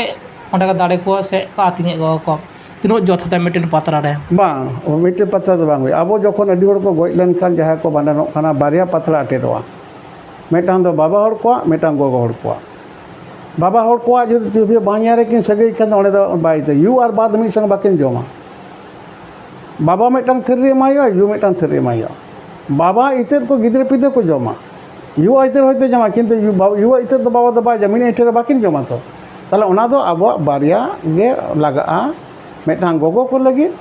ᱚᱸᱰᱮ ᱠᱚ ᱫᱟᱲᱮ ᱠᱚᱣᱟ ᱥᱮ ᱠᱚ ᱟᱹᱛᱤᱧᱮᱫ ᱠᱚᱣᱟ ᱠᱚ ᱛᱤᱱᱟᱹᱜ ᱡᱚᱛᱷᱟᱛᱟ ᱢᱤᱫᱴᱮᱱ ᱯᱟᱛᱲᱟ ᱨᱮ ᱵᱟᱝ ᱢᱤᱫᱴᱮᱱ ᱯᱟᱛᱲᱟ ᱫᱚ ᱵᱟᱝ ᱦᱩᱭᱩᱜᱼᱟ ᱟᱵᱚ ᱡᱚᱠᱷᱚᱱ ᱟᱹᱰᱤ ᱦᱚᱲ ᱠᱚ ᱜᱚᱡ ᱞᱮᱱᱠᱷᱟᱱ ᱡᱟᱦᱟᱸᱭ ᱠᱚ ᱵᱷᱟᱸᱰᱟᱱᱚᱜ ᱠᱟᱱᱟ ᱵᱟᱨᱭᱟ ᱯᱟᱛᱲᱟ ᱟᱴᱮᱫᱚᱜᱼᱟ ᱢᱤᱫᱴᱟᱱ ᱫᱚ ᱵᱟᱵᱟ ᱦᱚᱲ ᱠᱚᱣᱟᱜ ᱢᱤᱫᱴᱟᱱ ᱜᱚᱜᱚ ᱦᱚᱲ ᱠᱚᱣᱟᱜ ᱵᱟᱵᱟ ᱦᱚᱲ ᱠᱚᱣᱟᱜ ᱡᱩᱫᱤ ᱵᱟᱦᱚᱧᱟᱨ ᱨᱮᱠᱤᱱ ᱥᱟᱹᱜᱟᱹᱭ ᱠᱷᱟᱱ ᱫᱚ ᱚᱸᱰᱮ ᱫᱚ ᱵᱟᱭ ᱫᱚ ᱭᱩ ᱟᱨ ᱵᱟ ᱫᱚ ᱢᱤᱫ ᱥᱚᱝᱜᱮ ᱵᱟᱹᱠᱤᱱ ᱡᱚᱢᱟ ᱵᱟᱵᱟ ᱢᱤᱫᱴᱟᱝ ᱛᱷᱟᱹᱨᱤ ᱨᱮ ᱮᱢᱟᱭ ᱦᱩᱭᱩᱜᱼᱟ ᱭᱩ ᱢᱤᱫᱴᱟᱝ ᱛᱷᱟᱹᱨᱤ ᱨᱮ ᱮᱢᱟᱭ ᱦᱩᱭᱩᱜᱼᱟ ᱵᱟᱵᱟ ᱤᱛᱟᱹᱫ ᱠᱚ ᱜᱤᱫᱽᱨᱟᱹ ᱯᱤᱫᱽᱨᱟᱹ ᱠᱚ ᱡᱚᱢᱟ ᱭᱩ ᱟᱜ ᱤᱛᱟᱹᱫ ᱦᱚᱭᱛᱳ ᱡᱚᱢᱟᱭ ᱠᱤᱱᱛᱩ ᱭᱩ ᱟᱜ ᱤᱛᱟᱹᱫ ᱫᱚ ᱵᱟᱵᱟ ᱫᱚ ᱵᱟᱭ ᱡᱚᱢᱟ ᱢᱤᱫ ᱟᱹᱭᱴᱷᱟᱹ ᱨᱮ ᱵᱟᱹᱠᱤᱱ ᱡᱚᱢᱟ ᱛᱚ ᱛᱟᱦᱚᱞᱮ ᱚᱱᱟ ᱫᱚ ᱟᱵᱚᱣᱟᱜ ᱵᱟᱨᱭᱟ ᱜᱮ ᱞᱟᱜᱟᱜᱼᱟ ᱢᱤᱫᱴᱟᱝ ᱜᱚᱜᱚ ᱠᱚ ᱞᱟᱹᱜᱤᱫ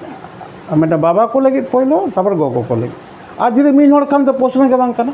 ᱟᱨ ᱢᱤᱫᱴᱟᱝ ᱵᱟᱵᱟ ᱠᱚ ᱞᱟᱹᱜᱤᱫ ᱯᱳᱭᱞᱳ ᱛᱟᱨᱯᱚᱨᱮ ᱜᱚᱜᱚ ᱠᱚ ᱞᱟᱹᱜᱤᱫ ᱟᱨ ᱡᱩᱫᱤ ᱢᱤᱫ ᱦᱚᱲ ᱠᱷᱟᱱ ᱫᱚ ᱯᱨᱚᱥᱱᱚ ᱜᱮ ᱵᱟᱝ ᱠᱟᱱᱟ